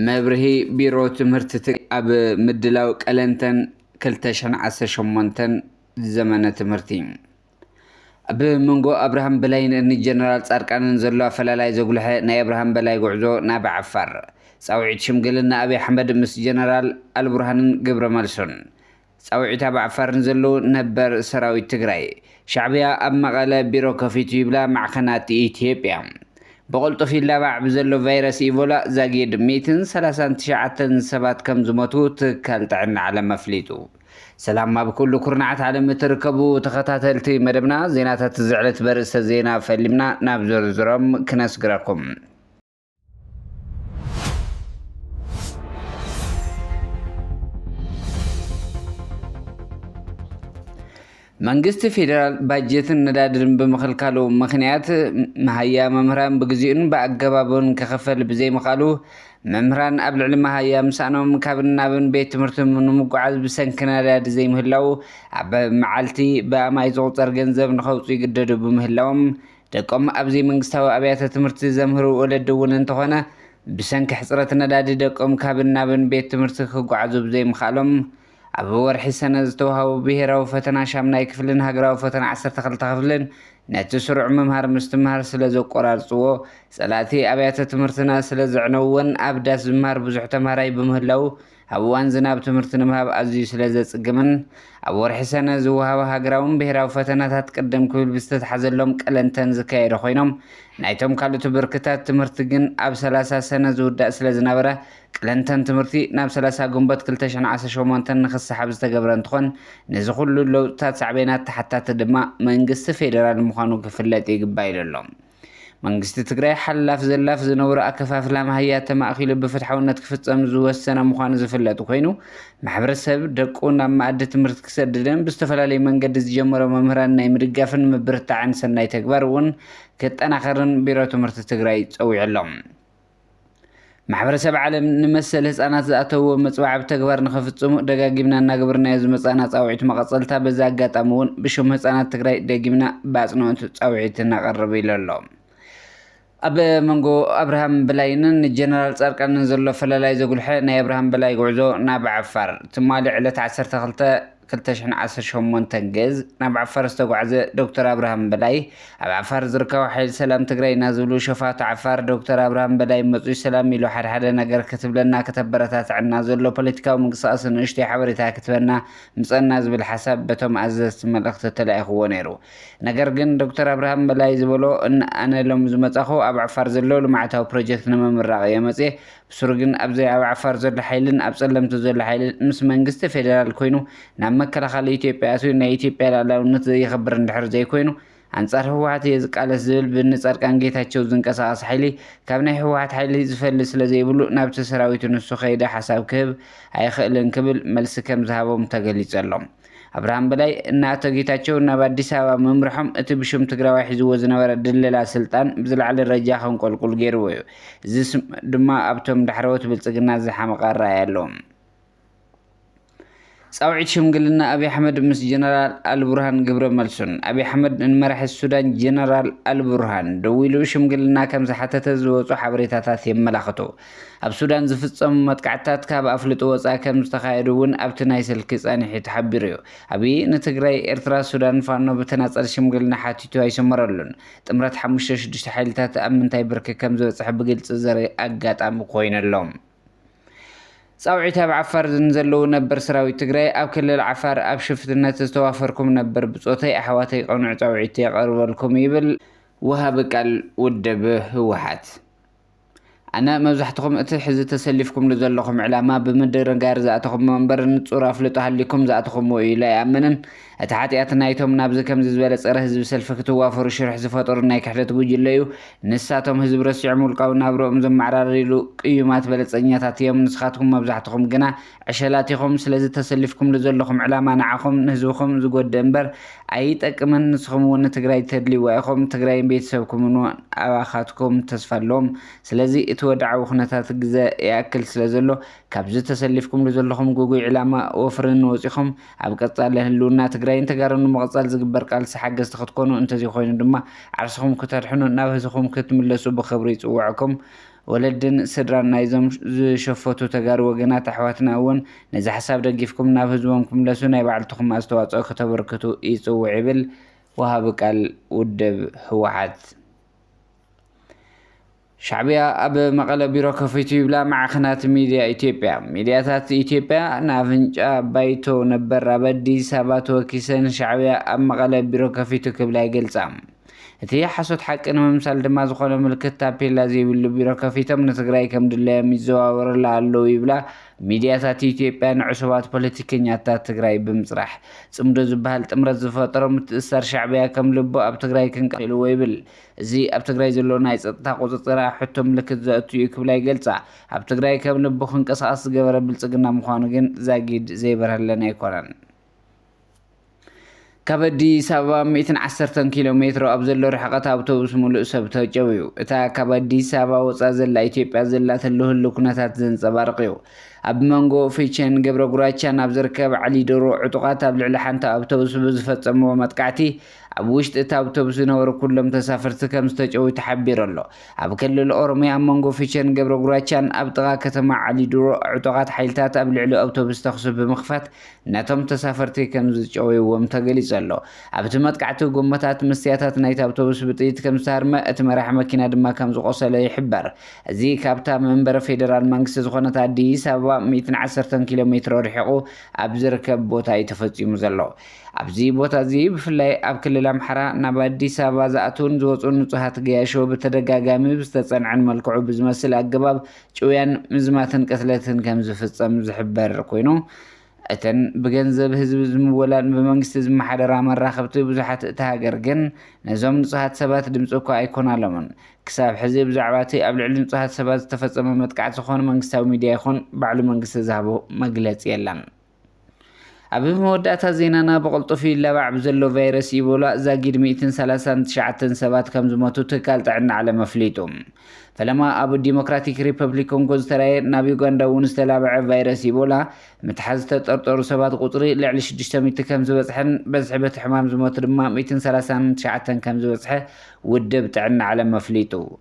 መብርሂ ቢሮ ትምህርቲ ትግራይ ኣብ ምድላው ቀለንተን ክልተ ሽሕን ዓሰርተ ሸሞንተን ዘመነ ትምህርቲ ኣብ መንጎ ኣብርሃም በላይን ን ጀነራል ፃድቃንን ዘሎ ኣፈላላይ ዘጉልሐ ናይ ኣብርሃም በላይ ጉዕዞ ናብ ዓፋር፣ ፃውዒት ሽምግልና ኣብይ ኣሕመድ ምስ ጀነራል ኣልቡርሃንን ግብረመልሱን፣ ፃውዒት ኣብ ዓፋር ንዘለዉ ነበር ሰራዊት ትግራይ፣ ሻዕብያ ኣብ መቐለ ቢሮ ከፊቱ ይብላ ማዕኸናት ኢትዮጵያ ብቕልጡፍ ይላባዕ ብዘሎ ቫይረስ ኢቮላ ዛጊድ ሚእትን ሰላሳን ትሽዓተን ሰባት ከምዝሞቱ ትካል ጥዕና ዓለም ኣፍሊጡ። ሰላም ኣብ ኩሉ ኩርናዓት ዓለም እትርከቡ ተኸታተልቲ መደብና ዜናታት እዚ ዕለት በርእስተ ዜና ፈሊምና ናብ ዝርዝሮም ክነስግረኩም መንግስቲ ፌዴራል ባጀትን ነዳድን ብምኽልካሉ ምኽንያት መሃያ መምህራን ብግዚኡን ብኣገባቡን ክኽፈል ብዘይምኽኣሉ መምህራን ኣብ ልዕሊ መሃያ ምሳእኖም ካብን ናብን ቤት ትምህርቲ ንምጉዓዝ ብሰንኪ ነዳዲ ዘይምህላው ኣብ መዓልቲ ብኣማኢት ዝቑፀር ገንዘብ ንኸውፅኡ ይግደዱ ብምህላዎም ደቆም ኣብ ዘይመንግስታዊ ኣብያተ ትምህርቲ ዘምህሩ ወለዲ እውን እንተኾነ ብሰንኪ ሕፅረት ነዳዲ ደቆም ካብን ናብን ቤት ትምህርቲ ክጓዓዙ ብዘይምኽኣሎም ኣብ ወርሒ ሰነ ዝተውሃቡ ብሄራዊ ፈተና ሻምናይ ክፍልን ሃገራዊ ፈተና ዓሰርተ ክልተ ክፍልን ነቲ ስሩዕ ምምሃር ምስትምሃር ስለ ዘቆራርጽዎ፣ ጸላእቲ ኣብያተ ትምህርትና ስለ ዘዕነውወን ኣብ ዳስ ዝምሃር ብዙሕ ተምሃራይ ብምህላዉ ኣብ እዋን ዝናብ ትምህርቲ ንምሃብ ኣዝዩ ስለ ዘጽግምን ኣብ ወርሒ ሰነ ዝወሃባ ሃገራውን ብሄራዊ ፈተናታት ቅድም ክብል ብዝተትሓዘሎም ቀለንተን ዝካየደ ኮይኖም ናይቶም ካልእቱ ብርክታት ትምህርቲ ግን ኣብ ሰላሳ ሰነ ዝውዳእ ስለ ዝነበረ ቅለንተን ትምህርቲ ናብ ሰላሳ ግንቦት ክልተ ሽሕን ዓሰርተ ሸሞንተን ንክሰሓብ ዝተገብረ እንትኾን ነዚ ኩሉ ለውጥታት ሳዕቤናት ተሓታቲ ድማ መንግስቲ ፌደራል ምዃኑ ክፍለጥ ይግባእ ኢሉ ኣሎ። መንግስቲ ትግራይ ሓላፍ ዘላፍ ዝነውረ ኣከፋፍላ ማህያ ተማእኪሉ ብፍትሓውነት ክፍፀም ዝወሰነ ምዃኑ ዝፍለጥ ኮይኑ ማሕበረሰብ ደቁ ናብ መኣዲ ትምህርቲ ክሰድድን ብዝተፈላለዩ መንገዲ ዝጀመሮ መምህራን ናይ ምድጋፍን ምብርታዕን ሰናይ ተግባር እውን ክጠናኸርን ቢሮ ትምህርቲ ትግራይ ፀዊዑ ኣሎ። ማሕበረሰብ ዓለም ንመሰል ህፃናት ዝኣተዎ መፅባዕ ብተግባር ንኸፍፅሙ ደጋጊምና እናገበርናዮ ዝመፃእና ፃውዒት መቐፀልታ በዚ ኣጋጣሚ እውን ብሽም ህፃናት ትግራይ ደጊምና ብኣፅንኦት ፃውዒት ነቐርብ ኢሉ ኣሎ። ኣብ መንጎ ኣብርሃም በላይንን ጀነራል ፃድቃንን ዘሎ ፈላላይ ዘጉልሐ ናይ ኣብርሃም በላይ ጉዕዞ ናብ ዓፋር ትማሊ ዕለት 12 ክልተ ሽሕን ዓሰርተ ሸሞንተን ግእዝ ናብ ዓፋር ዝተጓዕዘ ዶክተር ኣብርሃም በላይ ኣብ ዓፋር ዝርከቡ ሓይሊ ሰላም ትግራይ ኢና ዝብሉ ሸፋቱ ዓፋር ዶክተር ኣብርሃም በላይ መፅዩ ሰላም ኢሉ ሓደሓደ ነገር ክትብለና ክተበረታትዐና ዘሎ ፖለቲካዊ ምንቅስቃስ ንእሽተይ ሓበሬታ ክትበና ምፀና ዝብል ሓሳብ በቶም ኣዘዝቲ መልእክቲ ተላኢክዎ ነይሩ ነገር ግን ዶክተር ኣብርሃም በላይ ዝበሎ ኣነ ሎሚ ዝመፃኹ ኣብ ዓፋር ዘሎ ልምዓታዊ ፕሮጀክት ንምምራቅ እየ መፅየ ብሱሩ ግን ኣብዘ ኣብ ዓፋር ዘሎ ሓይልን ኣብ ፀለምቲ ዘሎ ሓይልን ምስ መንግስቲ ፌደራል ኮይኑ ናብ መከላኸሊ ኢትዮጵያ ኣትዩ ናይ ኢትዮጵያ ልኣላውነት ዘየኽብር እንድሕር ዘይኮይኑ ኣንፃር ህወሓት እየ ዝቃለስ ዝብል ብእኒፃድቃን ጌታቸው ዝንቀሳቐስ ሓይሊ ካብ ናይ ህወሓት ሓይሊ ዝፈሊ ስለዘይብሉ ናብቲ ሰራዊቱ ንሱ ከይደ ሓሳብ ክህብ ኣይኽእልን ክብል መልሲ ከምዝሃቦም ተገሊፁ ኣሎ። ኣብርሃም በላይ እና ኣቶ ጌታቸው ናብ ኣዲስ ኣበባ ምምርሖም እቲ ብሽም ትግራዋይ ሒዝዎ ዝነበረ ድለላ ስልጣን ብዝለዓለ ደረጃ ከንቆልቁል ገይርዎ እዩ። እዚ ድማ ኣብቶም ዳሕረዎት ብልፅግና ዝሓመቐ ኣረኣእያ ኣሎ። ፃውዒት ሽምግልና ኣብይ ኣሕመድ ምስ ጀነራል ኣልቡርሃን ግብረ መልሱን ኣብይ ኣሕመድ ንመራሒ ሱዳን ጀነራል ኣልቡርሃን ደዊሉ ሽምግልና ከምዝሓተተ ዝወፁ ሓበሬታታት የመላኽቱ። ኣብ ሱዳን ዝፍጸሙ መጥቃዕትታት ካብ ኣፍልጦ ወጻኢ ከም ዝተኻየዱ እውን ኣብቲ ናይ ስልኪ ጻኒሒት ሓቢሩ እዩ። ኣብይ ንትግራይ፣ ኤርትራ፣ ሱዳን፣ ፋኖ ብተናጸል ሽምግልና ሓቲቱ ኣይሰመረሉን። ጥምረት ሓሙሽተ ሽዱሽተ ሓይልታት ኣብ ምንታይ ብርኪ ከም ዝበጽሐ ብግልጺ ዘርኢ ኣጋጣሚ ኮይኑ ኣሎ። ጻውዒት ኣብ ዓፋር ንዘለዉ ነበር ሰራዊት ትግራይ ኣብ ክልል ዓፋር ኣብ ሽፍትነት ዝተዋፈርኩም ነበር ብጾተይ ኣሕዋተይ ቅኑዕ ጻውዒት የቐርበልኩም ይብል ወሃቢ ቃል ውድብ ህወሓት። ኣነ መብዛሕትኹም እቲ ሕዚ ተሰሊፍኩምሉ ዘለኹም ዕላማ ብምድንጋር ዝኣተኹሞ እምበር ንጹር ኣፍልጦ ሃሊኩም ዝኣተኹምዎ እዩ ኢለ ኣይኣምንን። እቲ ሓጥያት ናይቶም ናብዚ ከምዚ ዝበለ ጸረ ህዝቢ ሰልፊ ክትዋፈሩ ሽርሒ ዝፈጠሩ ናይ ክሕደት ጉጅለ እዩ። ንሳቶም ህዝቢ ረሲዖም ውልቃዊ ናብርኦም ዘመዓራርይሉ ቅዩማት በለጸኛታት እዮም። ንስኻትኩም መብዛሕትኹም ግና ዕሸላት ኢኹም ስለዚ ተሰሊፍኩምሉ ዘለኹም ዕላማ ንዓኹም ንህዝብኹም ዝጎድእ እምበር ኣይጠቅምን ንስኹም እውን ንትግራይ ተድልይዋ ኢኹም ትግራይን ቤተሰብኩምን እውን ኣባኻትኩም ተስፋ ኣለዎም ስለዚ እቲ ወድዓዊ ኩነታት ግዘ ይኣክል ስለዘሎ ካብዚ ተሰሊፍኩምሉ ዘለኹም ጉጉይ ዕላማ ወፍርን ወፂኹም ኣብ ቀፃሊ ህልውና ትግራይን ተጋሩን ንምቕፃል ዝግበር ቃልሲ ሓገዝቲ ክትኮኑ እንተዘይኮይኑ ድማ ዓርስኹም ክተድሕኑ ናብ ህዝኹም ክትምለሱ ብኽብሪ ይፅውዕኩም ወለድን ስድራን ናይዞም ዝሸፈቱ ተጋሩ ወገናት ኣሕዋትና እውን ነዚ ሓሳብ ደጊፍኩም ናብ ህዝቦም ክምለሱ ናይ ባዕልትኹም ኣስተዋፅኦ ክተበርክቱ ይፅውዕ ይብል ወሃቢ ቃል ውድብ ህወሓት። ሻዕቢያ ኣብ መቐለ ቢሮ ከፊቱ ይብላ ማዕኸናት ሚድያ ኢትዮጵያ። ሚድያታት ኢትዮጵያ ንኣፍንጫ ባይቶ ነበር ኣብ ኣዲስ ኣበባ ተወኪሰን ሻዕቢያ ኣብ መቐለ ቢሮ ከፊቱ ክብላ ይገልፃ። እቲ ሓሶት ሓቂ ንምምሳል ድማ ዝኾነ ምልክት ታፔላ ዘይብሉ ቢሮ ከፊቶም ንትግራይ ከምድላዮም ይዘዋወርላ ኣለዉ ይብላ ሚድያታት ኢትዮጵያ ንዕሱባት ፖለቲከኛታት ትግራይ ብምፅራሕ ፅምዶ ዝበሃል ጥምረት ዝፈጠሮ ምትእስሳር ሻዕቢያ ከም ልቡ ኣብ ትግራይ ክንቀልዎ ይብል እዚ ኣብ ትግራይ ዘሎ ናይ ፀጥታ ቁፅፅር ኣብ ሕቶ ምልክት ዘእቱ እዩ ክብላ ይገልፃ ኣብ ትግራይ ከም ልቡ ክንቀሳቀስ ዝገበረ ብልፅግና ምዃኑ ግን ዛጊድ ዘይበርሀለን ኣይኮነን ካብ ኣዲስ ኣበባ ሚእትን ዓሰርተን ኪሎ ሜትሮ ኣብ ዘሎ ርሕቐት ኣውቶቡስ ሙሉእ ሰብ ተጨውዩ። እታ ካብ ኣዲስ ኣበባ ወጻእ ዘላ ኢትዮጵያ ዘላትሉ ህሉው ኩነታት ዘንጸባርቕ እዩ። ኣብ መንጎ ፊቸን ገብረ ጉራቻን ኣብ ዝርከብ ዓሊዶሮ ዕጡቓት ኣብ ልዕሊ ሓንቲ ኣውቶቡስ ብዝፈጸምዎ መጥቃዕቲ ኣብ ውሽጢ እታ ኣውቶቡስ ዝነበሩ ኩሎም ተሳፈርቲ ከም ዝተጨውዩ ተሓቢሩ ኣሎ። ኣብ ክልል ኦሮሚያ ኣብ መንጎ ፊቸን ገብረ ጉራቻን ኣብ ጥቓ ከተማ ዓሊዶሮ ዕጡቓት ሓይልታት ኣብ ልዕሊ ኣውቶቡስ ተኹሲ ብምኽፋት ነቶም ተሳፈርቲ ከም ዝጨወይዎም ተገሊጹ ኣሎ። ኣብቲ መጥቃዕቲ ጎማታት መስትያታት ናይቲ ኣውቶቡስ ብጥይት ከም ዝተሃርመ፣ እቲ መራሒ መኪና ድማ ከም ዝቖሰለ ይሕበር። እዚ ካብታ መንበረ ፌደራል መንግስቲ ዝኾነት ኣዲስ ኣበባ ሚእትን ዓሰርተን ኪሎ ሜትሮ ርሒቑ ኣብ ዝርከብ ቦታ እዩ ተፈጺሙ ዘሎ። ኣብዚ ቦታ እዚ ብፍላይ ኣብ ክልል ኣምሓራ ናብ ኣዲስ ኣበባ ዝኣትዉን ዝወጹን ንጹሃት ገያሾ ብተደጋጋሚ ብዝተጸንዐን መልክዑ ብዝመስል ኣገባብ ጭውያን ምዝማትን ቅትለትን ከም ዝፍጸም ዝሕበር ኮይኑ፣ እተን ብገንዘብ ህዝቢ ዝምወላን ብመንግስቲ ዝመሓደራ መራኸብቲ ብዙሓት እታ ሃገር ግን ነዞም ንጹሃት ሰባት ድምጺ እኳ ኣይኮናሎምን። ክሳብ ሕዚ ብዛዕባ እቲ ኣብ ልዕሊ ንጹሃት ሰባት ዝተፈጸመ መጥቃዕቲ ዝኾን መንግስታዊ ሚድያ ይኹን ባዕሉ መንግስቲ ዝሃቦ መግለጺ የለን። ኣብ መወዳእታ ዜናና ብቕልጡፍ ይላባዕ ብዘሎ ቫይረስ ኢቦላ ዛጊድ ሚእትን ሰላሳን ትሽዓተን ሰባት ከም ዝሞቱ ትካል ጥዕና ዓለም ኣፍሊጡ። ፈለማ ኣብ ዲሞክራቲክ ሪፐብሊክ ኮንጎ ዝተራየ ናብ ዩጋንዳ እውን ዝተላበዐ ቫይረስ ኢቦላ ምትሓዝ ዝተጠርጠሩ ሰባት ቁፅሪ ልዕሊ ሽዱሽተ ሚእቲ ከም ዝበፅሐን በዝሒ በቲ ሕማም ዝሞቱ ድማ ሚእትን ሰላሳን ትሽዓተን ከም ዝበፅሐ ውድብ ጥዕና ዓለም ኣፍሊጡ።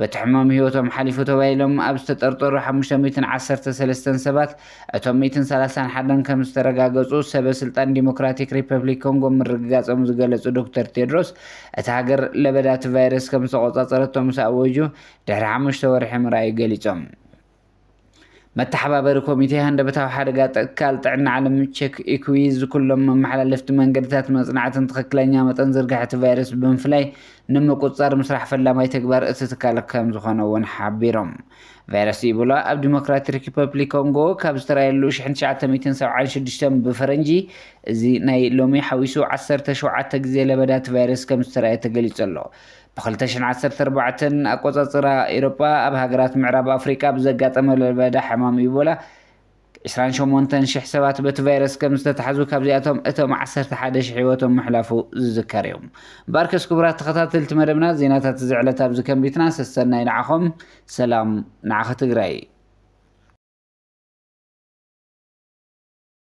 በቲ ሕማም ህይወቶም ሓሊፉ ተባሂሎም ኣብ ዝተጠርጠሩ ሓሙሽተ ሚእትን ዓሰርተ ሰለስተን ሰባት እቶም ሚእትን ሰላሳን ሓደን ከምዝተረጋገፁ ሰበ ስልጣን ዲሞክራቲክ ሪፐብሊክ ኮንጎ ምርግጋፆም ዝገለፁ ዶክተር ቴድሮስ እታ ሃገር ለበዳ እቲ ቫይረስ ከምዝተቖፃፀረቶ ምስ ኣወጁ ድሕሪ ሓሙሽተ ወርሒ ምርኣዩ ገሊፆም። መተሓባበሪ ኮሚቴ ሃንደበታዊ ሓደጋ ትካል ጥዕና ዓለም ቼክ ኢኩዊዝ ኩሎም መመሓላለፍቲ መንገድታት መፅናዕትን ትኽክለኛ መጠን ዝርግሐቲ ቫይረስ ብምፍላይ ንምቁፅፃር ምስራሕ ፈላማይ ተግባር እቲ ትካል ከም ዝኾነ እውን ሓቢሮም። ቫይረስ ኢቦላ ኣብ ዲሞክራቲክ ሪፐብሊክ ኮንጎ ካብ ዝተራየሉ 1976 ብፈረንጂ እዚ ናይ ሎሚ ሓዊሱ 17 ግዜ ለበዳቲ ቫይረስ ከም ዝተራየ ተገሊፁ ኣሎ። ብ ክልተ ሽሕ ዓሰርተ ኣርባዕተ ኣቆጻጽራ ኤሮጳ ኣብ ሃገራት ምዕራብ ኣፍሪቃ ብዘጋጠመ ለበዳ ሕማም ኢቦላ ዕስራን ሸሞንተን ሽሕ ሰባት በቲ ቫይረስ ከም ዝተታሕዙ ካብዚኣቶም እቶም ዓሰርተ ሓደ ሽሕ ህይወቶም ምሕላፉ ዝዝከር እዩ። ባርከስ ክቡራት ተኸታተልቲ መደብና ዜናታት እዚ ዕለት ኣብዚ ከንቢትና ሰሰናይ ንዓኹም ሰላም ንዓኺ ትግራይ።